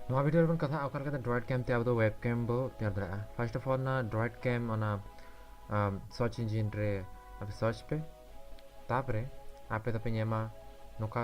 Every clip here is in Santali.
ᱱᱚᱣᱟ ᱵᱷᱤᱰᱤᱭᱳ ᱨᱮᱵᱚᱱ ᱠᱟᱛᱷᱟᱜᱼᱟ ᱚᱠᱟ ᱞᱮᱠᱟᱛᱮ ᱰᱨᱚᱭᱮᱰ ᱠᱮᱢ ᱛᱮ ᱟᱵᱚ ᱫᱚ ᱣᱮᱵ ᱠᱮᱢ ᱵᱚ ᱛᱮᱭᱟᱨ ᱫᱟᱲᱮᱭᱟᱜᱼᱟ ᱯᱷᱟᱨᱥᱴ ᱚᱯᱷ ᱚᱞ ᱚᱱᱟ ᱰᱨᱚᱭᱮᱰ ᱠᱮᱢ ᱚᱱᱟ ᱥᱚᱨᱪ ᱤᱧᱡᱤᱱ ᱨᱮ ᱟᱯᱮ ᱥᱚᱨᱪ ᱯᱮ ᱛᱟᱯᱚᱨᱮ ᱟᱯᱮ ᱫᱚᱯᱮ ᱧᱟᱢᱟ ᱱᱚᱝᱠᱟ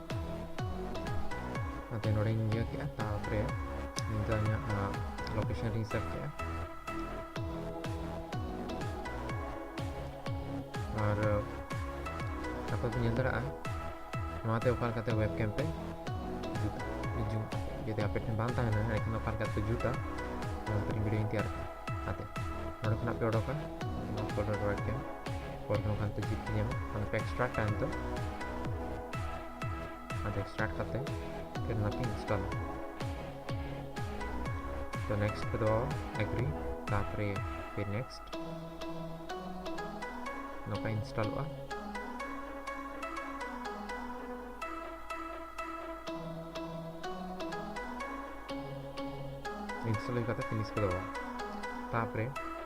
ᱱᱚᱛᱮ ᱱᱚᱰᱮᱧ ᱤᱭᱟᱹ ᱠᱮᱫᱼᱟ ᱛᱟᱨᱯᱚᱨᱮ ᱱᱤᱭᱟᱹ ᱫᱚ ᱤᱧᱟᱹᱜ ᱞᱳᱠᱮᱥᱚᱱ ᱨᱤᱧ ᱥᱮᱵᱷ ᱠᱮᱫᱼᱟ ᱟᱨ ᱟᱯᱮ ᱯᱮ ᱧᱮᱞ ᱫᱟᱲᱮᱭᱟᱜᱼᱟ ᱱᱚᱣᱟᱛᱮ ᱚᱠᱟ ᱞᱮᱠᱟᱛᱮ ᱣᱮᱵ ᱠᱮᱢ ᱯᱮ ᱡᱩᱛᱟ ᱡᱩᱢ ᱡᱩᱫᱤ ᱟᱯᱮ ᱴᱷᱮᱱ ᱵᱟᱝ ᱛᱟᱦᱮᱱᱟ ᱮᱱᱠᱷᱟᱱ ᱚᱠᱟ ᱞᱮᱠᱟᱛᱮ ᱯᱮ ᱡᱩᱛᱟ ᱱᱚᱣᱟ ᱛᱮᱞᱤᱧ ᱵᱷᱤᱰᱤᱭᱳᱧ ᱛᱮᱭᱟᱨ ᱠᱟᱛᱮ ᱱᱚᱰᱮ ᱠᱷᱚᱱᱟᱜ ᱯᱮ ᱚᱰᱚᱠᱟ ᱯᱷᱳᱞᱰᱟᱨ ᱣᱮᱵ ᱠᱮᱢ ᱠᱚᱨ ᱦᱚᱸ ᱠᱷᱟᱱ ᱛᱚ ᱡᱤᱯ ᱧᱟᱢᱟ ᱚᱱᱟ ᱯᱮ ᱮᱠᱥᱴᱨᱟᱠᱴ ᱟᱱ ᱛᱚ ᱟᱫᱚ ᱮᱠᱥᱴᱨᱟᱠᱴ ᱠᱟᱛᱮ ᱯᱷᱤᱨ ᱚᱱᱟ ᱯᱮ ᱤᱱᱥᱴᱚᱞ ᱛᱚ ᱱᱮᱠᱥᱴ ᱯᱮ ᱫᱚ ᱮᱜᱽᱨᱤ ᱛᱟᱯᱚᱨᱮ ᱯᱮ ᱱᱮᱠᱥᱴ ᱱᱚᱝᱠᱟ ᱤᱱᱥᱴᱚᱞᱚᱜᱼᱟ ᱤᱱᱥᱴᱚᱞ ᱦᱩᱭ ᱠᱟᱛᱮ ᱯᱷᱤᱱᱤᱥ ᱯᱮ ᱫᱚ ᱛᱟᱯᱚᱨᱮ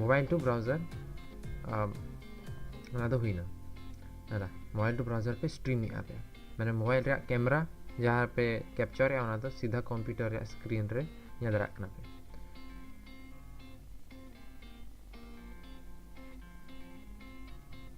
ᱢᱳᱵᱟᱭᱤᱞ ᱴᱩ ᱵᱨᱟᱣᱡᱟᱨ ᱚᱱᱟ ᱫᱚ ᱦᱩᱭᱱᱟ ᱫᱟᱫᱟ ᱢᱳᱵᱟᱭᱤᱞ ᱴᱩ ᱵᱨᱟᱣᱡᱟᱨ ᱯᱮ ᱥᱴᱨᱤᱢᱮᱫᱼᱟ ᱯᱮ ᱢᱟᱱᱮ ᱢᱳᱵᱟᱭᱤᱞ ᱨᱮᱭᱟᱜ ᱠᱮᱢᱮᱨᱟ ᱡᱟᱦᱟᱸ ᱯᱮ ᱠᱮᱯᱪᱟᱨᱮᱫᱼᱟ ᱚᱱᱟ ᱫᱚ ᱥᱤᱫᱷᱟ ᱠᱚᱢᱯᱤᱭᱩᱴᱟᱨ ᱨᱮᱭᱟᱜ ᱥᱠᱨᱤᱱ ᱨᱮ ᱧᱮᱞ ᱫᱟᱲᱮᱭᱟᱜ ᱠᱟᱱᱟ ᱯᱮ